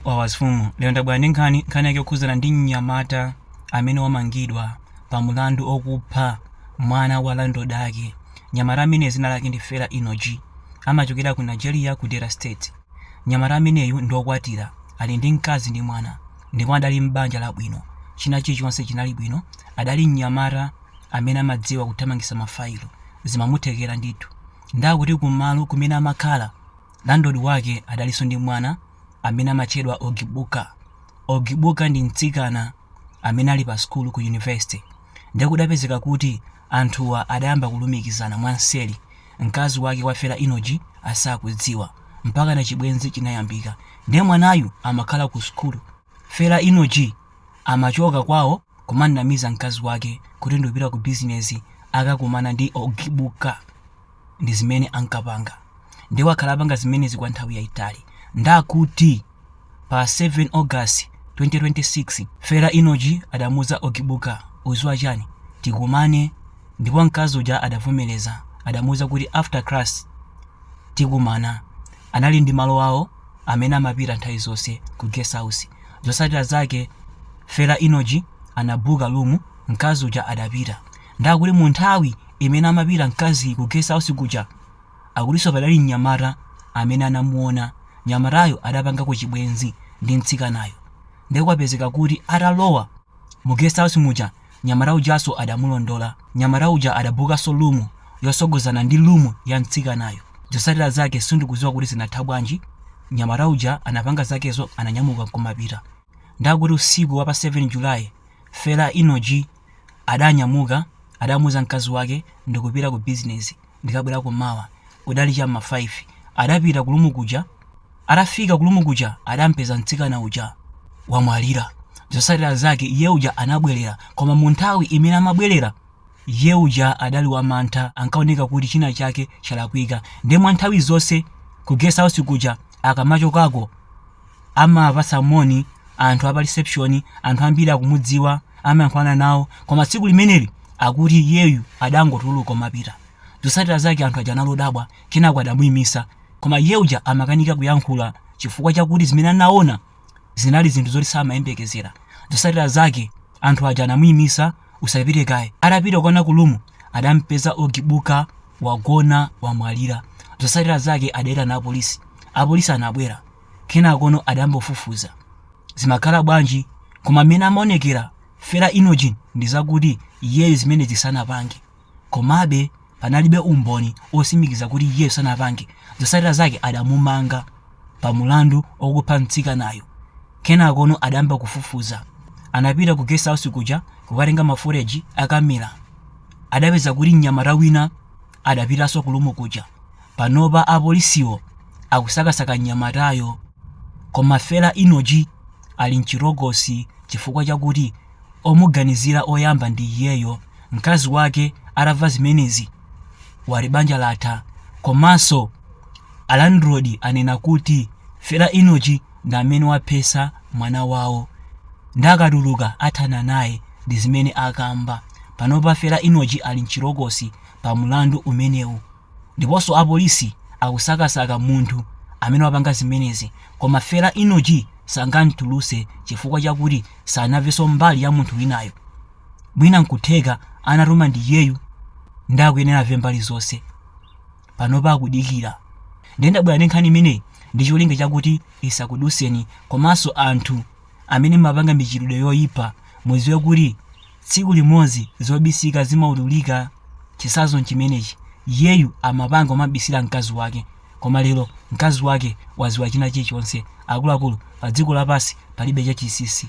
Wawa zfumu. Lero ndabwera ndi nkhani, nkhani yake yokhudzana ndi mnyamata amene wamangidwa pa mlandu okupha mwana wa landlord ake. Mnyamata ameneyi dzina lake ndi Fela Enoji. Amachokera ku Nigeria ku Delta State. Mnyamata ameneyu ndi okwatira, ali ndi mkazi ndi mwana ndipo adali m'banja labwino. China chilichonse chinali bwino, adali mnyamata amene amadziwa kuthamangitsa ma file. Zimamuthekera ndithu. Nde akuti ku malo kumene amakhala. Landlord wake adalinso ndi mwana amene amatchedwa Ogibuka. Ogibuka ndi mtsikana amene ali pa sukulu ku yunivesite. Ndiye kudapezeka kuti anthuwa adayamba kulumikizana mwanseri. Mkazi wake wa Fela Enoji asakudziwa. Mpakana chibwenzi chinayambika. Ndiye mwanayu amakhala kusukulu. Fela Enoji amachoka kwawo kumanamiza mkazi wake kuti ndikupita kubizinezi kukakumana ndi Ogibuka. ndi zimene ankapanga nde wakhala apanga zimenezi kwa nthawi yayitali ndakuti pa 7 august 2026 Fela Enoji adamuuza Ogibuka uziwa chani tikumane ndipo mkazi uja adavomereza adamuuza kuti after class tikumana anali ndi malo awo amene amapita nthawi zonse ku guest house zotsatira zake Fela Enoji anabuka room mkazi uja adapita ndakuti mu nthawi imene amapita mkazi ku guest house kuja akutinso padali mnyamata amene anamuona mnyamatayo adapangako chibwenzi ndi mtsikanayo nde kudapezeka kuti atalowa mu guest house muja mnyamata ujanso adamulondola mnyamata uja adabukanso room yosogozana ndi room ya mtsikanayo zosatira zake sindikuziwa kuti zinatha bwanji mnyamata uja anapanga zakezo ananyamuka nkumapita ndakuti usiku wa pa 7 July Fela Enoji adanyamuka adamuuza mkazi wake ndikupita ku business ndikabwerako mawa kudali cha m'ma 5 adapita ku room kuja atafika ku room kuja adampeza mtsikana uja wamwalira zotsatira zake iye uja anabwerera koma mu nthawi imene amabwerera iye uja adali wamantha ankaoneka kuti china chake chalakwika nde mwa nthawi zonse ku guest house kuja akamachokako Amawapatsa moni anthu a pa reception, anthu ambiri akumudziwa, amayankhulana nawo. Koma tsiku limeneli akuti iyeyu adangotuluka kumapita. Zotsatira zake anthu aja anali odabwa, kenako adamuimitsa. Koma iye uja amakanika kuyankhula chifukwa chakuti zimene anaona zinali zinthu zoti samayembekezera. Zotsatira zake anthu aja anamuimitsa, usapite kaye. Atapita kukaona ku room, adampeza Ogibuka wagona wamwalira. Zotsatira zake adaitana apolisi. Apolisi anabwera. kenakono adayamba kufufuza zimakhala bwanji koma mmene amaonekera Fela Enoch ndizakuti iyeyo zimenezi sanapange komabe panalibe umboni osimikiza kuti iyeyo sanapange zosatsira zake adamumanga pa mulandu okupha mtsikanayo kenakono adayamba kufufuza anapita ku guest house kuja kukatenga ma footage a kamera adapeza kuti mnyamata wina Adapitanso ku room kuja. Panopa apolisiwo akusakasaka mnyamatayo. Koma Fela Enoch ali mchitokosi chifukwa chakuti omuganizira oyamba ndi iyeyo. Mkazi wake atamva zimenezi wati banja latha. Komanso a landlord anena kuti Fela Enoch ndi amene waphetsa mwana wawo. Nde akatuluka athana naye. Ndi zimene akamba. Panopa Fela Enoch ali mchitokosi. pa mlandu umenewu. Ndiponso apolisi akusakasaka munthu amene wapanga zimenezi. Koma Fela Enoch sangam'tulutse chifukwa chakuti sanamvenso mbali ya munthu winayo. Mwina n'kutheka anatuma ndi iyeyu ndiye akuyenera amve mbali zonse. Panopa akudikira. Ndiye ndabwera ndi nkhani imeneyi ndi cholinga chakuti isakudutseni komanso anthu amene mumapanga michitidwe yoipa mudziwe kuti Tsiku limodzi zobisika zimaululika chisazo nchimenechi iyeyu amapanga kumabisira mkazi wake koma lero mkazi wake waziwa china chilichonse akuluakulu padziko lapansi palibe chachisisi.